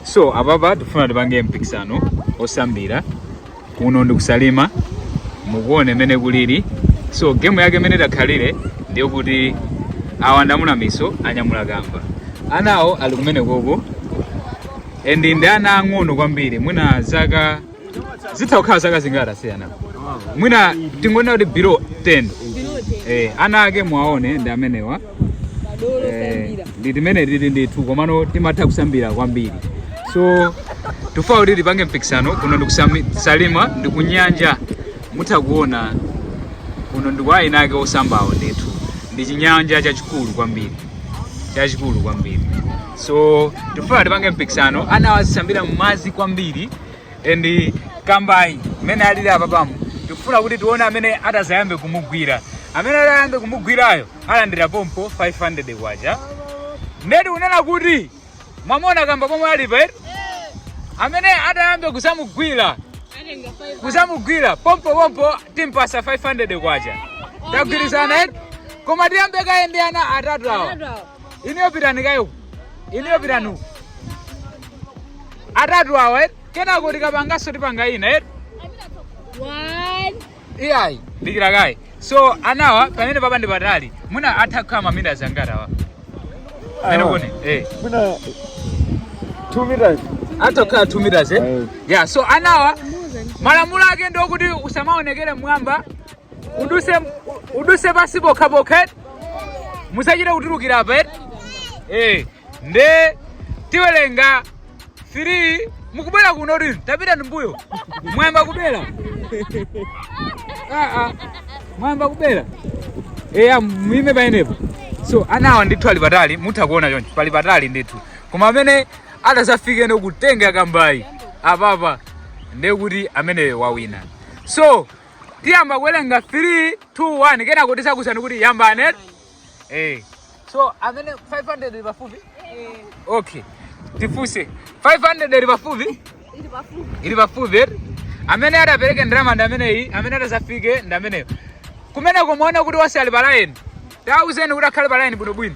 so apapa tifuna tipange mpikisano osambira kuno ndi ku Salima mukuone mene kulili so game yake mene itakhalire ndiye kuti awa ndamuna miso anyamula kamba anawo ali kumene koko and ndi ana ang'ono kwambiri mwina zaka zitha kukhala zaka zingati anawa mwina tingonena kuti below 10 eh, ana ake mwaone ndi amenewa eh, ndi timene tili ndithu komano timatha kusambira kwambiri so tifuna kuti tipange mpikisano kuno ndi ku Salima ndikunyanja mutha kuona kuno ndi kwa ana ake osambawo ndithu ndi chinyanja chachikulu kwambiri chachikulu kwambiri so tifuna tipange mpikisano ana azisambira mmadzi kwambiri and kambayi mmene alili apapamu tikufuna kuti tione amene atazayambe kumugwira amene atayambe kumugwirayo alandira pompo 500 kwacha nde tikunena kuti mwamuona kamba pomwe alipa eti amene atayambe kusamugwira kusamugwira pompo pompo timpasa 500 kwacha tagwirizana eti koma tiyambe kaye ndi ana atatu awa Inuyo pitani kaye uku. Inuyo pitani uku. Atatu awa eti. Kenako tikapanganso tipanga ina eti. One. Iyayi. Dikira kaye. So anawa pamene apapa ndi patali. Mwina atha kukhala mamita angati awa. Pamene Awa. pone. Eh. Mwina 2 meters. Atha kukhala 2 meters eh. Eh. Yeah, so anawa malamulo ake ndi okuti usamaonekere m'mwamba. Uduse uduse pasi pokha pokha. eti. musachite kutulukira apa eti eh nde tiwelenga 3 mukubera kunotu tapitani mbuyo mwayamba kubera ah ah mwayamba kubera eya muime pamenepo so anawa ndithu ali patali mutha kuona chonchi pali patali ndithu koma amene atazafike ndi kutenga kambayi apapa ndekuti ameneyo wawina so tiyamba kuwelenga 3 2 1 kenako tizakuuzani kuti yambani eti eh so amene 500 ili pafupi okay tifunse 500 ili pafupi ili pafupi eti amene atapereke ndalama ndi ameneyi amene atazafike ndi ameneyo kumene kumuona kuti onse ali pa line tauzeni kuti akhale pa line bwinobwino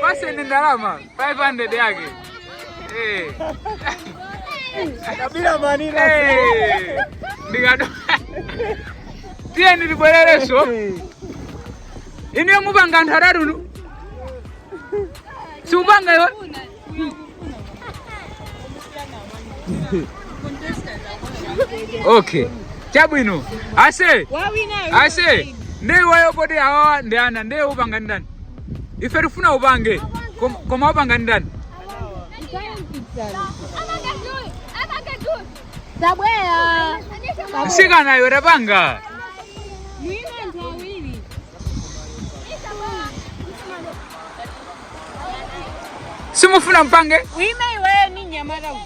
Paseni ndalama 500 yake. Eh. Kabila manila. Eh. Ndikado. Tiye tibwerereso. Inde mupanga anthu atatu. Siupanga iwe. okay chabwino ase ase nde iweyo poti awa ndi ana nde upanga ndi ndani ife tifuna upange kom- koma upanga ndi ndani Tabwera. msikana iwe tapanga simufuna mpange Ima iweyo ni mnyamata uyu.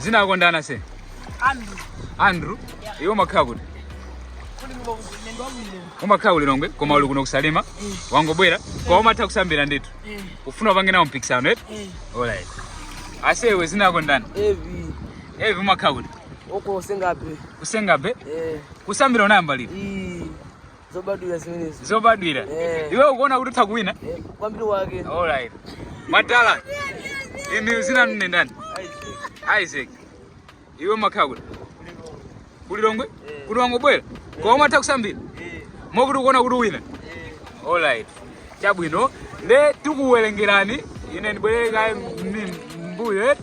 dzina lako ndani ase Andrew. andrew iwe umakhala kuti umakhala ku lilongwe koma uli kuno ku Salima wangobwera koma umatha kusambira ndithu Eh. ufuna upange nawo mpikisano eti Eh. alright asewe dzina lako ndani Evi. evi umakhala kuti uko ku Senga Bay ku Senga Bay eh. kusambira unayamba liti mm. zobadwira zimenezo zobadwira eh. iwe ukuona kuti utha kuwina eh. kwambiri wake all right madala inu dzina ndi ndani isaac iwe umakhala kuti ku Lilongwe eh. kuti wangobwera koma umatha kusambira eh. mokuti ukuona kuti uwina eh. all right chabwino nde tikuwerengerani ine ndibwerere kaye mmbuyo eti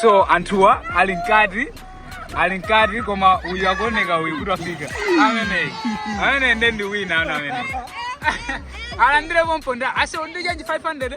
so anthuwa ali mkati ali mkati koma uyu akuoneka uyu kuti wafika ameneyi ameneyi nde ndi winner ameneyi alandire pompo ndalama ase undijanje 500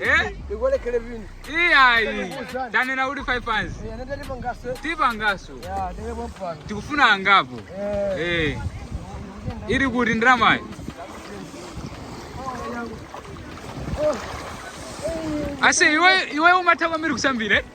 Eh? Ikolekele vini. Iyayi. Tanena kuti 5 fans. Eh, nenda ndipo ngaso. Tipa ngaso. Ya, ndele mwampano. Tikufuna angapo. Eh. Eh. Ili kuti ndrama. Ase iwe iwe umatha kwambiri kusambira. eh?